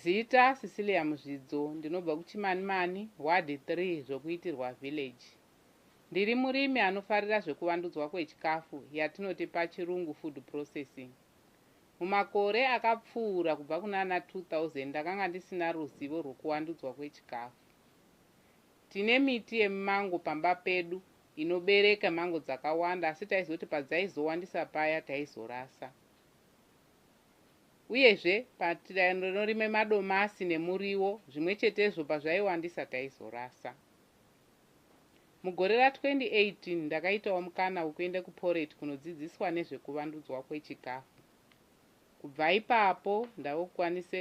Zita, Cecilia Muzvidzo, ndinobva kuChimanimani, Ward 3, Zvokuitirwa Village. Ndiri murimi anofarira zvekuvandudzwa kwechikafu yatinoti pachirungu food processing. Mumakore akapfuura kubva kunana 2000 ndakanga ndisina ruzivo rwekuwandudzwa kwechikafu. Tine miti yemimango pamba pedu inobereka mango dzakawanda asi taizoti padzaizowandisa paya taizorasa. Uyezve, patiraini rinorima madomasi nemuriwo zvimwe chetezvo pazvaiwandisa taizorasa. Mugore ra 2018 ndakaitawo mukana wekuenda kuPorate kunodzidziswa nezvekuvandudzwa kwechikafu. Kubva ipapo ndave kukwanisa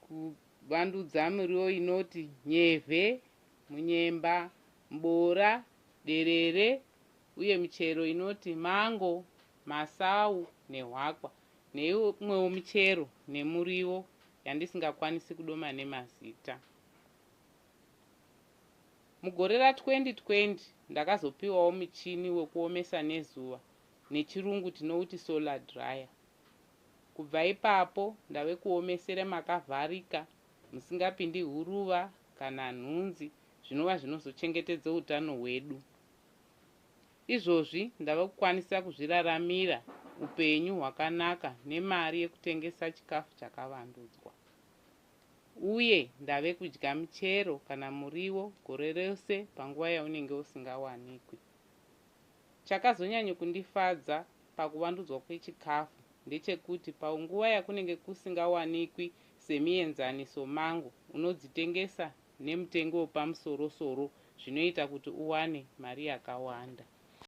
kuvandudza miriwo inoti nyevhe, munyemba, mboora, derere uye michero inoti mango, masawu nehwakwa neimwewo michero nemuriwo yandisingakwanisi kudoma nemazita. Mugore ra 2020 ndakazopiwawo muchini wekuomesa nezuva nechirungu tinouti solar dryer. Kubva ipapo ndave kuomesera makavharika musingapindi huruva kana nhunzi zvinova zvinozochengetedza utano hwedu. Izvozvi ndava kukwanisa kuzviraramira upenyu hwakanaka nemari yekutengesa chikafu chakavandudzwa uye ndave kudya michero kana muriwo gore rose panguva yaunenge usingawanikwi. Chakazonyanya kundifadza pakuvandudzwa kwechikafu ndechekuti panguva yakunenge kusingawanikwi semienzaniso mangu unodzitengesa nemutengo wepamusoro-soro zvinoita kuti uwane mari yakawanda.